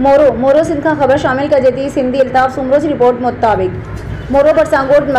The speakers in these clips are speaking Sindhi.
مورو، مورو سنڌ کان خبر شامل ڪجي ٿي، سنڌي الطاف سومرو جي رپورٽ مطابق مورو ڀرسان ڳوٺ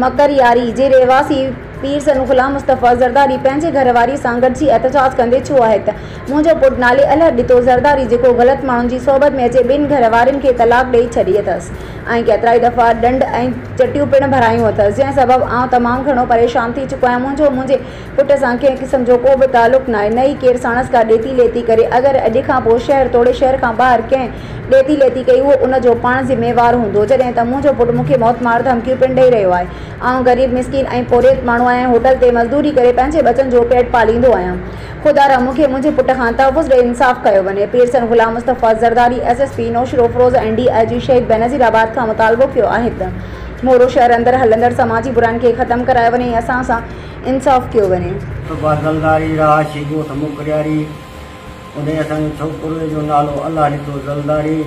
مڪرياري جي رهواسي پير سنو غلام مصطفيٰ زرداري پنهنجي گهر واري سان گڏجي احتجاج ڪندي چيو آهي ته منهنجو پٽ نالي الهه ڏتو زرداري جيڪو غلط ماڻهن جي صحبت ۾ اچي ٻن گهر وارين کي طلاق ڏئي ڇڏي اٿس ۽ ڪيترائي دفعا ڏنڊ ۽ چٽيون پڻ ڀرايون اٿس جنهن سبب آئون تمام گهڻو پريشان ٿي چڪو آهيان منهنجو منهنجي پٽ سان ڪنهن قسم جو ڪو به تعلق ناهي، نه ئي ڪير ساڻس ڪا ڏيتي ليتي ڪري. اگر اڄ کان پوء شهر توڙي شهر کان ٻاهر ڪنهن ڏيتي ليتي ڪئي، اهو ان جو پاڻ ذميوار هوندو. جڏهن ته منهنجو پٽ مون کي موت مار ڌمڪيون پڻ ڏئي رهيو آهي. آئون غريب مسڪين ۽ پورهيت ماڻهو آهيان، هوٽل تي مزدوري ڪري پنهنجي ٻچن جو پيٽ پاليندو آهيان. خدا را مون کي منهنجي پٽ کان تحفظ ڏئي انصاف ڪيو وڃي. پيرسن Ghulam Mustafa Zardari S S P Naushahro Feroze ۽ D I G Shaheed Benazir آباد کان مطالبو ڪيو آهي ته مورو شهر اندر هلندڙ سماجي براين کي ختم ڪرايو وڃي ۽ اسان سان انصاف ڪيو وڃي. صبح زلداري راهه ڇي ڳوٺ موڪرياري اوڏي اسان جي ڇوڪري جو نالو الله ڏتو زلداري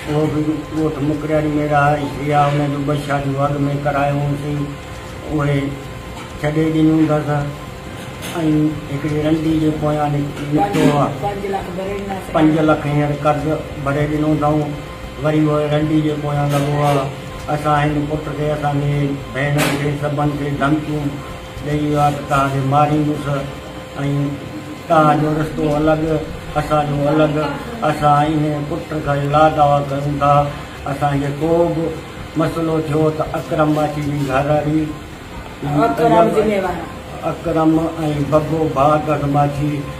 اهو به ڳوٺ موڪرياري ۾ رهائش هئي ها ان جون ٻه شاديون اڳ ۾ ڪرايون هئسين اهي ڇڏي ڏنيون هوندس ۽ هڪڙي رنڊي جي پويان نڪتو ها پنج لک هينئر قرض ڀري ڏنو اٿئون. وري اهي رنڊي جي پويان لڳو ها. اسان هن پٽ کي، اسان جي ڀيڻن کي سڀن کي ڌمڪيون ڏئي ويو ها ته توهان کي ماريندس ۽ توهان جو رشتو الڳ اسان جو الڳ. اسان ان پٽ کي لا دعويٰ ڪريون ٿا. اسان کي ڪو به مسئلو ٿيو ته اڪرم ماڇي جي گهرواري اڪرم ۽ بگو ڀاڳس ماڇي،